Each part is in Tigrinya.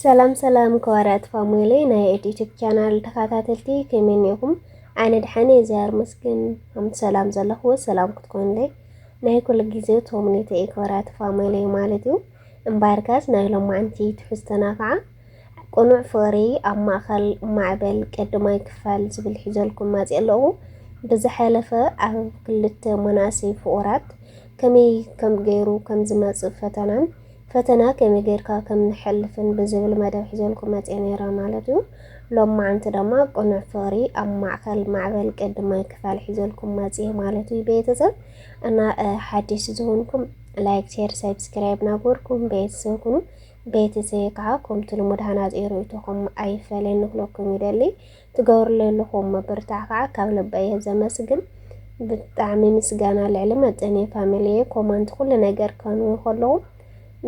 ሰላም ሰላም ከዋርያት ፋሙኤለይ ናይ ኤድ ዩቲብ ቻናል ተኸታተልቲ ከመይ እኒኹም? ኣነ ድሓን እየ ዚኣር መስግን ከምቲ ሰላም ዘለኹዎ ሰላም ክትኮኑለይ ናይ ኩሉ ግዜ ተምኔተ እየ ከዋርያት ፋሙኤለይ ማለት እዩ። እምበኣርካስ ናይ ሎማዕንቲ ትሕዝቶና ከዓ ቅኑዕ ፍቕሪ ኣብ ማእኸል ማዕበል ቀዳማይ ክፋል ዝብል ሒዘልኩም መፅየ ኣለኹ። ብዝሓለፈ ኣብ ክልተ መናእሰይ ፍቑራት ከመይ ከም ገይሩ ከም ዝመፅእ ፈተናን ፈተና ከመይ ጌርካ ከም ንሐልፍን ብዝብል መደብ ሒዘልኩም መጼ ኔረ ማለት እዩ። ሎምዓንቲ ደማ ቅኑዕ ፍቅሪ ኣብ ማዕከል ማዕበል ቅዲ ማይ ክፋል ሒዘልኩም መጼ ማለት እዩ ቤተሰብ እና ሐዲሽ ዝሆንኩም ላይክ ሼር ሰብስክራይብ ናግበርኩም ቤተሰብ ኩኑ ቤተሰብ ከዓ ከምቲ ልሙድ ሃናጺ ርእይቶኹም ኣይፈለየኒ ክለኩም ይደሊ ትገብርለይ ኣለኹም ምብርታዕ ካዓ ካብ ልበይ እየ ዘመስግን ብጣዕሚ ምስጋና ልዕሊ መጠን እየ ፋሚሊየ ኮመንት ኩሉ ነገር ከንው ከለኹ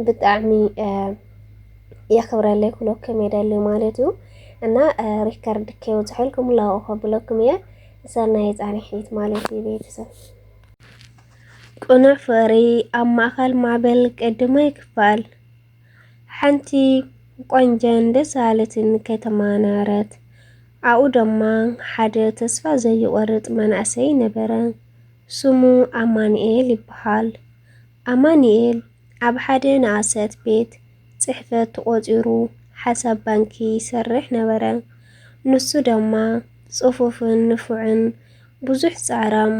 ብጣዕሚ የኽብረለይ ክብለኩም የደሊ ማለት እዩ እና ሪከርድ ከይወፅሐልኩም ላኡ ከብለኩም እየ ሰናይ ፃንሒት ማለት እዩ ቤተሰብ ቅኑዕ ፍቕሪ ኣብ ማእኸል ማዕበል ቀድማይ ክፋል ሓንቲ ቆንጀን ደስ በሃለትን ከተማ ነበረት። ኣብኡ ደማ ሓደ ተስፋ ዘይቆርጥ መናእሰይ ነበረ። ስሙ ኣማኒኤል ይበሃል። ኣማኒኤል ኣብ ሓደ ንኣሰት ቤት ፅሕፈት ተቆፂሩ ሓሳብ ባንኪ ይሰርሕ ነበረ። ንሱ ደማ ፅፉፍን ንፉዕን ብዙሕ ፃዕራም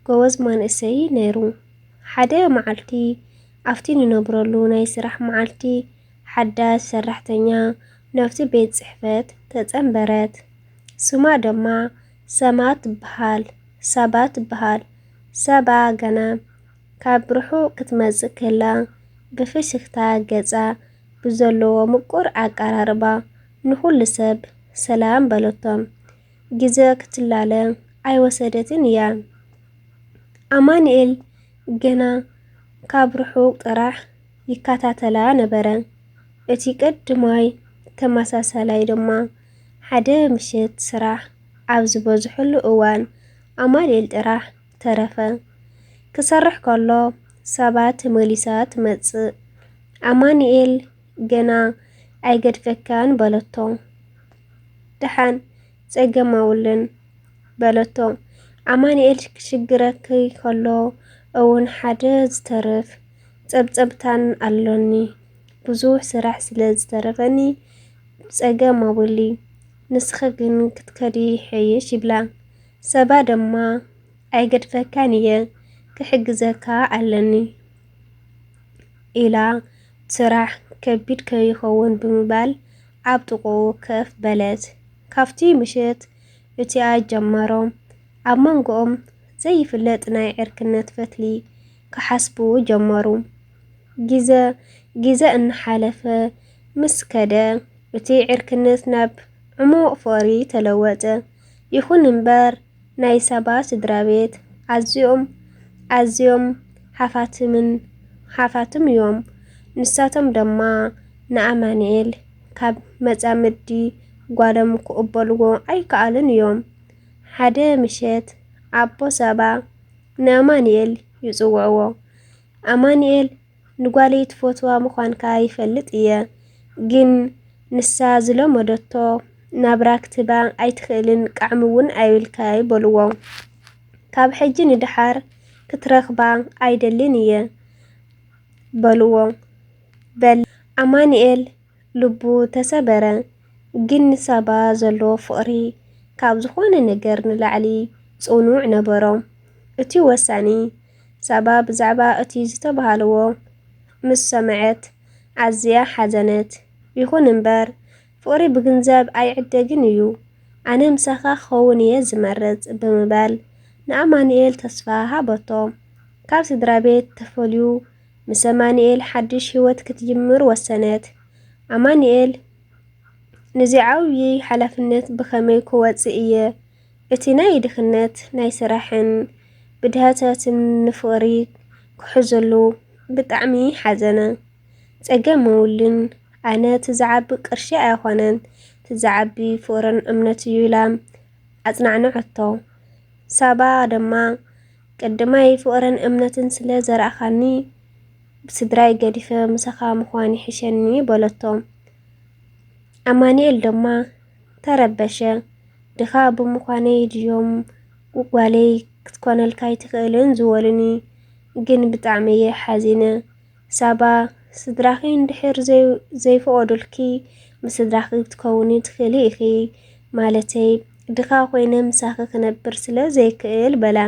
ጎበዝ ማንእሰይ ነይሩ። ሓደ መዓልቲ ኣብቲ ንነብረሉ ናይ ስራሕ መዓልቲ፣ ሓዳስ ሰራሕተኛ ናብቲ ቤት ጽሕፈት ተጸንበረት። ስማ ደማ ሰማ ትበሃል፣ ሳባ ትበሃል። ሳባ ገና ካብ ርሑቕ ክትመጽእ ከላ፣ ብፍሽኽታ ገጻ ብዘለዎ ምቁር ኣቀራርባ ንኹሉ ሰብ ሰላም በለቶም። ግዘ ክትላለ ኣይወሰደትን እያ። ኣማኒኤል ግና ካብ ርሑቕ ጥራሕ ይከታተላ ነበረ። እቲ ቀድማይ ተመሳሳላይ ድማ፣ ሓደ ምሸት ስራሕ ኣብ ዝበዝሐሉ እዋን ኣማኑኤል ጥራሕ ተረፈ። ክሰርሕ ከሎ ሳባ ተመሊሳ ትመጽእ። ኣማኑኤል ግና ኣይገድፈካን በለቶ። ደሓን ጸገም ኣውልን በለቶ። ኣማኒኤል ክሽግረኪ ከሎ እውን ሓደ ዝተርፍ ጸብጸብታን ኣሎኒ ብዙሕ ስራሕ ስለ ዝተረፈኒ ጸገም ኣውሊ ንስኺ ግን ክትከዲ ይሐይሽ ይብላ። ሰባ ድማ ኣይገድፈካን እየ ክሕግዘካ ኣለኒ ኢላ ስራሕ ከቢድ ከይኸውን ብምባል ኣብ ጥቕኡ ከፍ በለት። ካብቲ ምሽት እቲኣ ጀመሮም ኣብ መንጎኦም ዘይፍለጥ ናይ ዕርክነት ፈትሊ ክሓስቡ ጀመሩ። ግዘ ግዘ እናሓለፈ ምስ ከደ እቲ ዕርክነት ናብ ዕሙቕ ፍቕሪ ተለወጠ። ይኹን እምበር። ናይ ሳባ ስድራቤት ኣዝዮም ኣዝዮም ሃፋትምን ሃፋትም እዮም። ንሳቶም ደማ ንኣማንኤል ካብ መጻምዲ ጓሎም ክቕበልዎ ኣይከኣሉን እዮም። ሓደ ምሸት ኣቦ ሳባ ንኣማንኤል ይጽውዕዎ። ኣማንኤል ንጓለይ ትፈትዋ ምዃንካ ይፈልጥ እየ ግን ንሳ ዝለመደቶ ናብራ ክትህባ ኣይትኽእልን ቃዕሚ እውን ኣይብልካይ በልዎ ካብ ሕጂ ንደሓር ክትረኽባ ኣይደልን እየ በልዎ በል ኣማኒኤል ልቡ ተሰበረ። ግን ንሳባ ዘለዎ ፍቕሪ ካብ ዝኾነ ነገር ንላዕሊ ጽኑዕ ነበሮ። እቲ ወሳኒ፣ ሳባ ብዛዕባ እቲ ዝተባህለዎ ምስ ሰምዐት ኣዝያ ሓዘነት። ይኹን እምበር፣ ፍቕሪ ብግንዘብ ኣይዕደግን እዩ፣ ኣነ ምሳኻ ክኸውን እየ ዝመርጽ ብምባል ንኣማኑኤል ተስፋ ሃበቶ። ካብ ስድራቤት ተፈልዩ ምስ ኣማኒኤል ሓድሽ ህይወት ክትጅምር ወሰነት። ኣማኒኤል፣ ንዚ ዓብዪ ሓላፍነት ብኸመይ ክወጽእ እየ? እቲ ናይ ድኽነት፣ ናይ ስራሕን ብድሃታትን ንፍቕሪ ክሕዘሉ ብጣዕሚ ሓዘነ። ጸገም መውሊን፣ ኣነ እቲ ዝዓቢ ቅርሺ ኣይኾነን፣ እቲ ዝዓቢ ፍቕርን እምነት እዩ ኢላ ኣጽናዕንዐቶ። ሳባ ደማ፣ ቅድማይ ፍቕርን እምነትን ስለ ዘርኣኻኒ፣ ስድራይ ገዲፈ ምሳኻ ምዃን ይሕሸኒ በለቶ። ኣማኒኤል ድማ ተረበሸ። ድኻ ብምዃነይ ድዮም ጓለይ ክትኮነልካ ኣይትኽእልን ዝበሉኒ? ግን ብጣዕሚ እየ ሓዚነ። ሳባ፣ ስድራኺ እንድሕር ዘይፍቐዱልኪ ምስ ስድራኺ ክትከውኒ ትኽእሊ ኢኺ፣ ማለተይ ድኻ ኮይነ ምሳኺ ክነብር ስለ ዘይክእል በላ።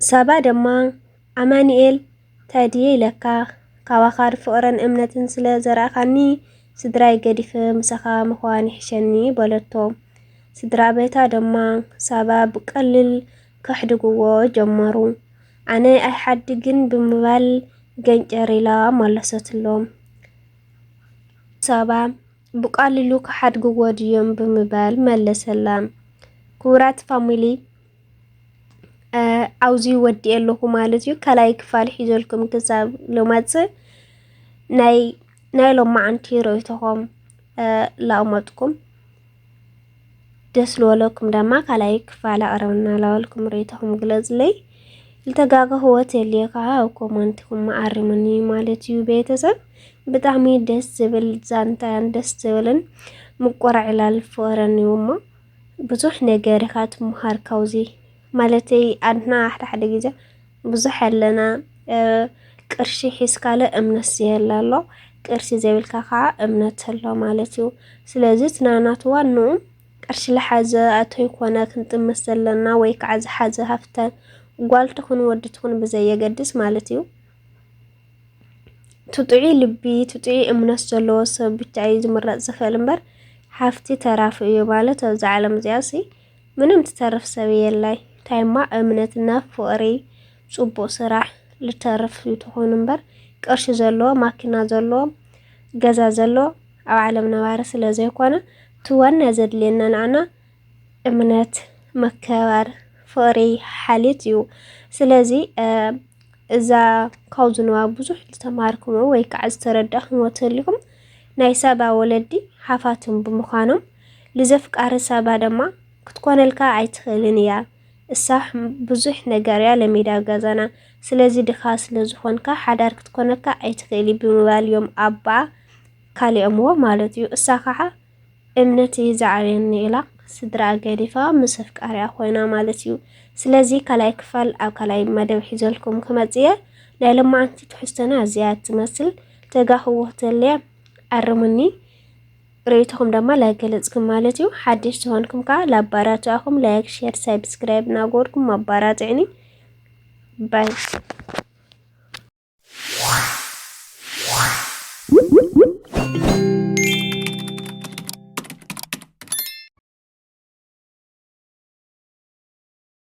ሳባ ድማ ኣማኒኤል ታይ ድየ ኢለካ ካባኻ ፍቕርን እምነትን ስለ ዘርኣኻኒ ስድራይ ገዲፈ ምሳኻ ምዃን ይሕሸኒ በለቶ። ስድራ ቤታ ድማ ሳባ ብቀሊል ከሕድግዎ ጀመሩ። ኣነ ኣይሓድግን ብምባል ገንጨር ኢላ መለሰትሎም። ሳባ ብቃልሉ ክሓድግዎ ድዮም ብምባል መለሰላ። ክቡራት ፋሚሊ ኣብዚ ወዲኤ ኣለኹ ማለት እዩ። ካልኣይ ክፋል ሒዘልኩም ክሳብ ልመጽእ ናይ ናይ ሎማዓንቲ ርእይቶኹም ላእመጥኩም ደስ ልወለኩም ደማ ካልኣይ ክፋል ኣቕረብና ላበልኩም ርእይቶኹም ግለጽለይ። ዝተጋገኽዎ ተልየ ከዓ ኣብ ኮመንትኩም ኣርሙኒ ማለት እዩ ቤተሰብ። ብጣዕሚ ደስ ዝብል ዛንታን ደስ ዝብልን ምቁራዕ ዕላል ፍቕርን እዩ እሞ ብዙሕ ነገር ኢኻ ትምሃር ካብዚ ማለተይ ኣድና ሓደ ሓደ ግዜ ብዙሕ ኣለና ቅርሺ ሒዝካለ እምነት ዘየለ ኣሎ ቅርሲ ዘይብልካ ከዓ እምነት ኣሎ ማለት እዩ ስለዚ እቲ ናናቱ ዋንኡ ቅርሺ ልሓዘ ኣተይኮነ ክንጥምት ዘለና ወይ ከዓ ዝሓዘ ሃፍተ ጓል ትኹን ወዲ ትኹን ብዘየገድስ ማለት እዩ ትጥዒ ልቢ ትጥዒ እምነት ዘለዎ ሰብ ብቻ እዩ ዝምረፅ ዝኽእል እምበር ሃፍቲ ተራፊ እዩ ማለት ኣብዚ ዓለም እዚኣ ምንም ትተርፍ ሰብ የላይ ታይማ እምነት እና ፍቅሪ ፅቡቅ ስራሕ ልተርፍ እንትኮኑ እምበር ቅርሺ ዘለዎ ማኪና ዘለዎ ገዛ ዘለዎ ኣብ ዓለም ነባሪ ስለ ዘይኮነ እቲ ዋና ዘድልየና ንዓና እምነት መከባር ፍቅሪ ሓልዮት እዩ ስለዚ እዛ ካብ ዝንባብ ብዙሕ ዝተማሃርክሞ ወይ ከዓ ዝተረዳእክሞ ተልኩም ናይ ሰባ ወለዲ ሓፋትም ብምዃኖም ልዘፍቃሪ ሳባ ደማ ክትኮነልካ ኣይትክእልን እያ እሳ ብዙሕ ነገር እያ ለሚዳ ገዛና ስለዚ ድካ ስለዝኮንካ ሓዳር ክትኮነካ ኣይትክእሊ ብምባል እዮም ኣባ ካሊኦምዎ ማለት እዩ እሳ ከዓ እምነት እዩ ዝዓብየኒ ኢላ ስድራ ገዲፋ ምስ ኣፍቃሪያ ኮይና ማለት እዩ ስለዚ ካልኣይ ክፋል ኣብ ካልኣይ መደብ ሒዘልኩም ክመጽእ እየ ናይ ለማዓንቲ ትሕዝቶና እዚኣ ትመስል ተጋክዎ ተልያ ኣርሙኒ ርእይቶኹም ደማ ላይክ ገለጽኩም ማለት እዩ። ሓድሽ ዝኾንኩም ከኣ ላባራትኣኹም ላይክ፣ ሼር፣ ሳብስክራይብ እናገበርኩም ኣባራትዕኒ ባይ